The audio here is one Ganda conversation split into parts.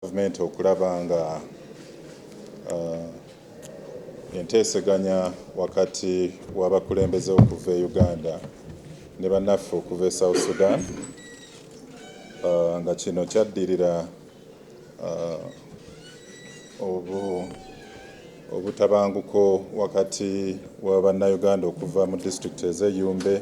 Gavumenti okulaba nga enteeseganya wakati w'abakulembeze okuva e Uganda ne bannaffe okuva e South Sudan nga kino kyaddirira obutabanguko wakati wa Bannayuganda okuva mu disitulikiti ez'e Yumbe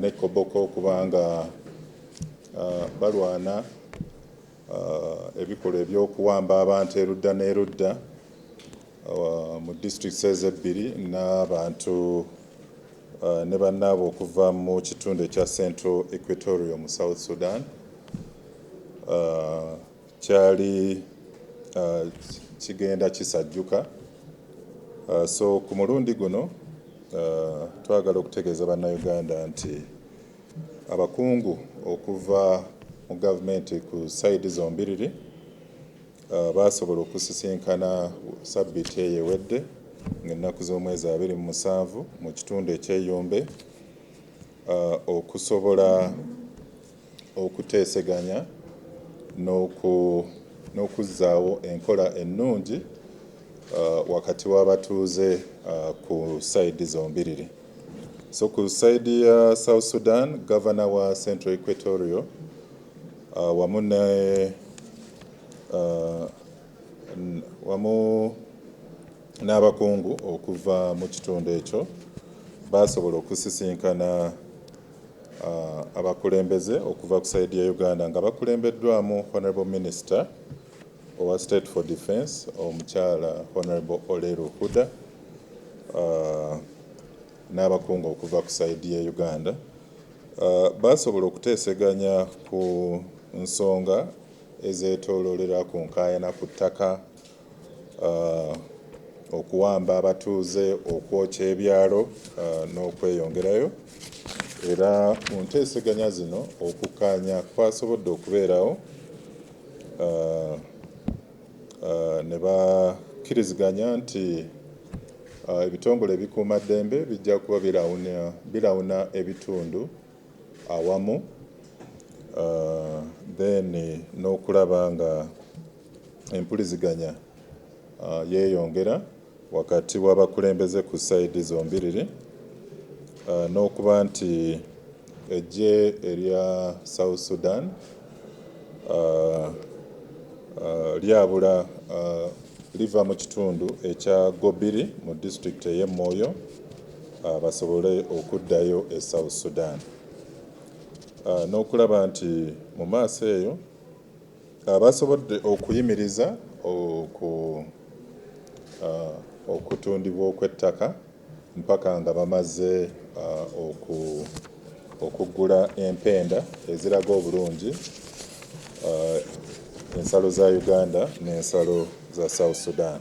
ne Koboko okuba nga balwana Ebikolwa eby'okuwamba abantu erudda n'erudda mu districts ezo ebbiri n'abantu ne bannaabwe okuva mu kitundu ekya Central Equatorial mu South Sudan kyali kigenda kisajjuka so ku mulundi guno twagala okutegeeza Bannayuganda nti Abakungu okuva mu gavumenti ku sayidi zombiriri baasobola okusisinkana ssabbiiti eyo ewedde ng'ennaku z'omwezi abiri mu musanvu mu kitundu eky'e Yumbe okusobola okuteeseganya n'okuzzaawo enkola ennungi wakati w'abatuuze ku sayidi zombiriri. So ku side ya South Sudan governor wa Central Equatorial uh, wamu ne uh, wamu n'abakungu okuva mu kitundu ekyo baasobola okusisinkana uh, abakulembeze okuva ku saidi ya Uganda nga bakulembeddwamu Honorable Minister owa State for Defence omukyala Honorable Oleru Huda n'abakungu okuva ku sayidi ya Uganda baasobola okuteeseganya ku nsonga ezeetooloolera ku nkaayana ku ttaka, okuwamba abatuuze, okwokya ebyalo n'okweyongerayo era mu nteeseganya zino okukkaanya kwasobodde okubeerawo. ne bakkiriziganya nti ebitongole ebikuuma ddembe bijja kuba birawuna ebitundu awamu then n'okulaba nga empuliziganya yeyongera wakati w'abakulembeze ku sayidi zombiriri n'okuba nti eggye erya South Sudan lyabula liva mu kitundu ekya Gobiri mu disitulikiti ey'e Moyo basobole okuddayo e South Sudan n'okulaba nti mu maaso eyo Abasobodde okuyimiriza okutundibwa okw'ettaka mpaka nga bamaze okuggula empenda eziraga obulungi ensalo za Uganda n'ensalo za South Sudan.